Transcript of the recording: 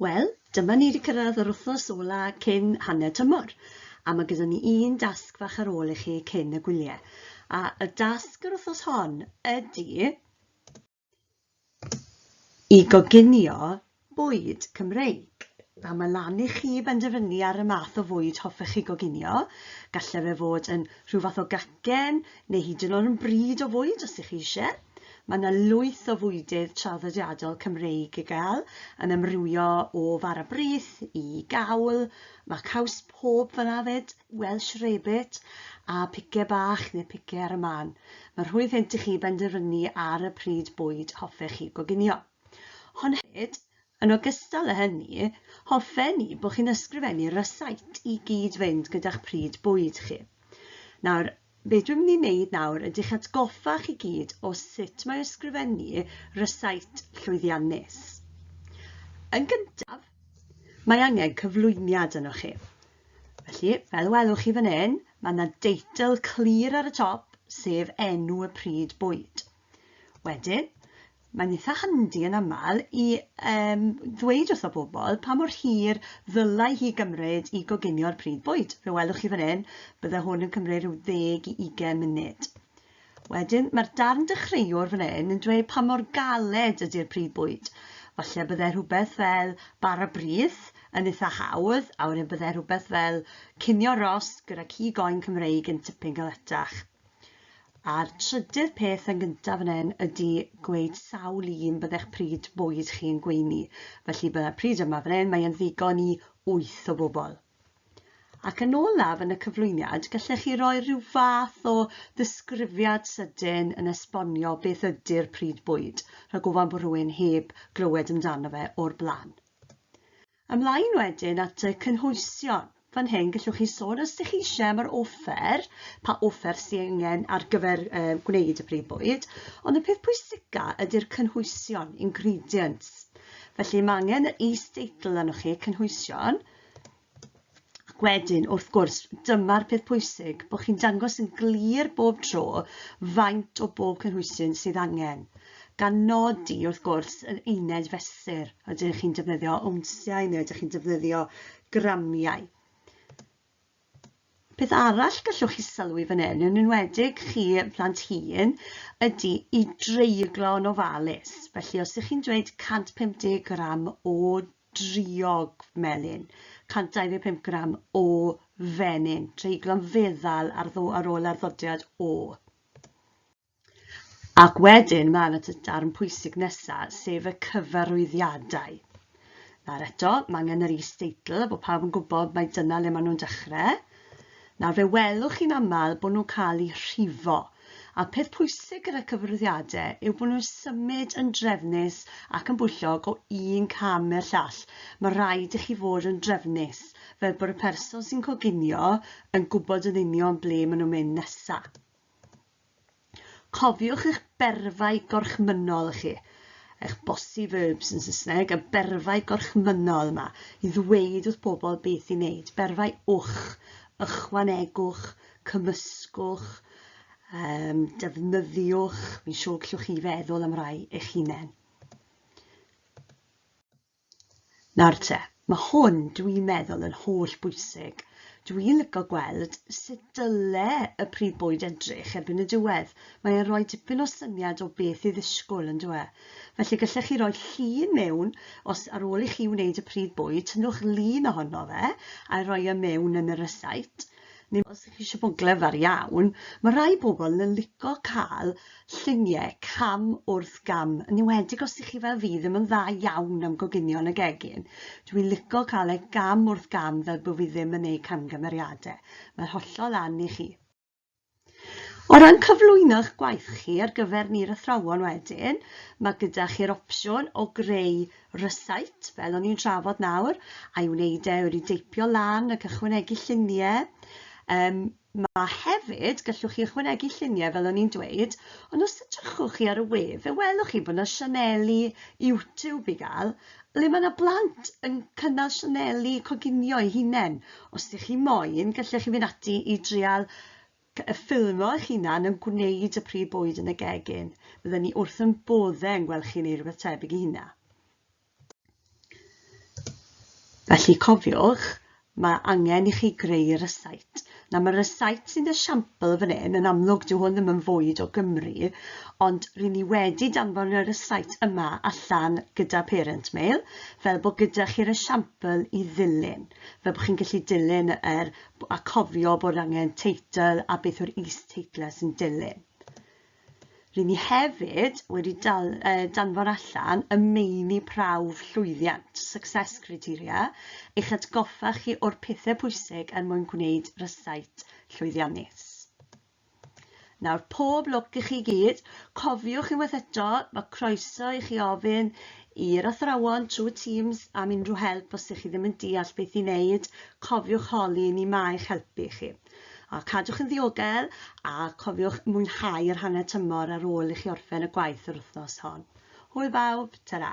Wel, dyma ni 'di cyrraedd yr wythnos ola cyn hanner tymor, a ma' gyda ni un dasg fach ar ôl i chi cyn y gwylie. A y dasg yr wythnos hon ydi i goginio bwyd Cymreig. A ma' lan i chi benderfynu ar y math o fwyd hoffech chi goginio. Galle fe fod yn rhyw fath o gacen, neu hyd yn o'd yn bryd o fwyd os 'ych chi isie. Mae yna lwyth o fwydydd traddodiadol Cymreig i gael, yn amrywio o fara brith i gawl, mae caws pob fan afed, Welsh rarebit, a pice bach neu pice ar y man. Mae rhwydd hynt i chi benderfynu ar y pryd bwyd hoffech chi goginio. Hon hefyd, yn ogystal â hynny, hoffen ni bod chi'n ysgrifennu rysait i gyd-fynd gyda'ch pryd bwyd chi. Nawr, Be dwi'n mynd i wneud nawr ydy'ch atgoffa chi gyd o sut mae ysgrifennu rysait llwyddiannus. Yn gyntaf, mae angen cyflwyniad yno chi. Felly, fel welwch chi fan hyn, mae yna deitl clir ar y top, sef enw y pryd bwyd. Wedyn, Mae'n eitha handi yn aml i yym ddweud wrtho bobl pa mor hir ddylai hi gymryd i goginio'r pridd bwyd. Fe welwch chi fan hyn, bydde hwn yn cymryd rhyw ddeg i ugain munud. Wedyn, mae'r darn dechreuwr fan hyn yn dweud pa mor galed ydy'r pridd bwyd. Falle bydde rhywbeth fel bara brith yn eitha hawdd, a wedyn bydde rhywbeth fel cinio rost gyda cig oen Cymreig yn tipyn galetach. A'r trydydd peth yn gyntaf fan hyn ydy gweud sawl un byddech pryd boed chi'n gweini. Felly byddai'r pryd yma fan hyn, mae yn ddigon i wyth o bobl. Ac yn olaf yn y cyflwyniad, gallech chi roi rhyw fath o ddisgrifiad sydyn yn esbonio beth ydy'r pryd bwyd, rhag ofan bod rhywun heb glywed amdano fe o'r blaen. Ymlaen wedyn at y cynhwysion. Fan hyn gallwch chi sôn os ydych chi eisiau am yr offer, pa offer sydd angen ar gyfer uh, gwneud y brif bwyd, ond y peth pwysica ydy'r cynhwysion, ingredients. Felly mae angen yr is-deitl arnoch chi, cynhwysion, Wedyn, wrth gwrs, dyma'r peth pwysig, bod chi'n dangos yn glir bob tro faint o bob cynhwysyn sydd angen, gan nodi, wrth gwrs, yr uned fesur. Ydych chi'n defnyddio ownsiau neu ydych chi'n defnyddio gramiau? Peth arall gallwch chi sylwi fan hyn, yn enwedig chi plant hun, ydy i dreiglo yn ofalus. Felly, os ydych chi'n dweud 150 gram o driog melyn, 125 gram o fenyn, treiglon feddal ar, ddo, ar ôl arddodiad o. Ac wedyn mae yna y darn pwysig nesaf, sef y cyfarwyddiadau. Nawr eto, mae angen yr is-deitl, bod pawb yn gwybod mae dyna le maen nhw'n dechrau. Nawr, fe welwch chi'n aml bod nhw'n cael eu rhifo, a'r peth pwysig gyda cyfarwyddiadau yw bod nhw'n symud yn drefnus ac yn bwyllog o un cam i'r llall. Mae rhaid i chi fod yn drefnus, fel bod y person sy'n coginio yn gwybod yn union ble maen nhw'n mynd nesaf. Cofiwch eich berfau gorchmynnol chi, eich bossy verbs yn Saesneg, y berfau gorchmynnol yma, i ddweud wrth bobl beth i wneud. Berfau wch, ychwanegwch, cymysgwch, um, defnyddiwch, fi'n siŵr gallwch chi feddwl am rai eich hunain. Nawr te, mae hwn dwi'n meddwl yn holl bwysig. Dwi'n lygo gweld sut dyle y prif bwyd edrych erbyn y diwedd. Mae e'n rhoi dipyn o syniad o beth i ddisgwyl yn dwe. Felly gallech chi roi llun mewn, os ar ôl i chi wneud y prif bwyd, tynnwch lun ohono fe, a'i roi e mewn yn y rysáit, neu os ydych chi eisiau bod yn glyfar iawn, mae rhai pobl yn lico cael lluniau cam wrth gam, yn enwedig os ydych chi fel fi ddim yn dda iawn am goginio yn y gegin. Dwi i'n lico cael ei gam wrth gam fel bod fi ddim yn ei camgymeriadau. Mae'r hollol lan i chi. O ran cyflwyno'ch gwaith chi ar gyfer ni'r athrawon wedyn, mae gyda chi'r opsiwn o greu rysáit, fel o'n i'n trafod nawr, a'i wneud e, wedi deipio lan ac ychwanegu lluniau. Um, mae hefyd, gallwch chi ychwanegu lluniau fel o'n i'n dweud, ond os edrychwch chi ar y we, fe welwch chi bod yna sianeli YouTube i gael, le mae 'na blant yn cynnal sianeli coginio eu hunain. Os ydych chi moyn, gallech chi fynd ati i drial y ffilmio eich hunan yn gwneud y prif bwyd yn y gegin. Bydden ni wrth yn bodde yn gweld chi'n ei rhywbeth tebyg i hynna. Felly cofiwch, Mae angen i chi greu rysáit. Nawr mae'r rysáit sy'n esiampl fan hyn, yn amlwg dyw hwn ddim yn fwyd o Gymru, ond ry'n ni wedi danfon y rysáit yma allan gyda Parent Mail, fel bod gyda chi'r esiampl i ddilyn, fel bod chi'n gallu dilyn yr, a cofio bod angen teitl a beth yw'r is-teitlau sy'n dilyn. Ry'n ni hefyd wedi dal, uh, danfon allan y meini prawf llwyddiant, success criteria, i'ch atgoffa chi o'r pethau pwysig er mwyn gwneud rysait llwyddiannus. Nawr, pob lwc i chi gyd. Cofiwch unwaith eto, mae croeso i chi ofyn i'r athrawon trwy Teams am unrhyw help os ydych chi ddim yn deall beth i wneud. Cofiwch holi ni mae eich helpu chi. A cadwch yn ddiogel, a cofiwch mwynhau yr hanner tymor ar ôl i chi orffen y gwaith yr wythnos hon. Hwyl bawb, tara!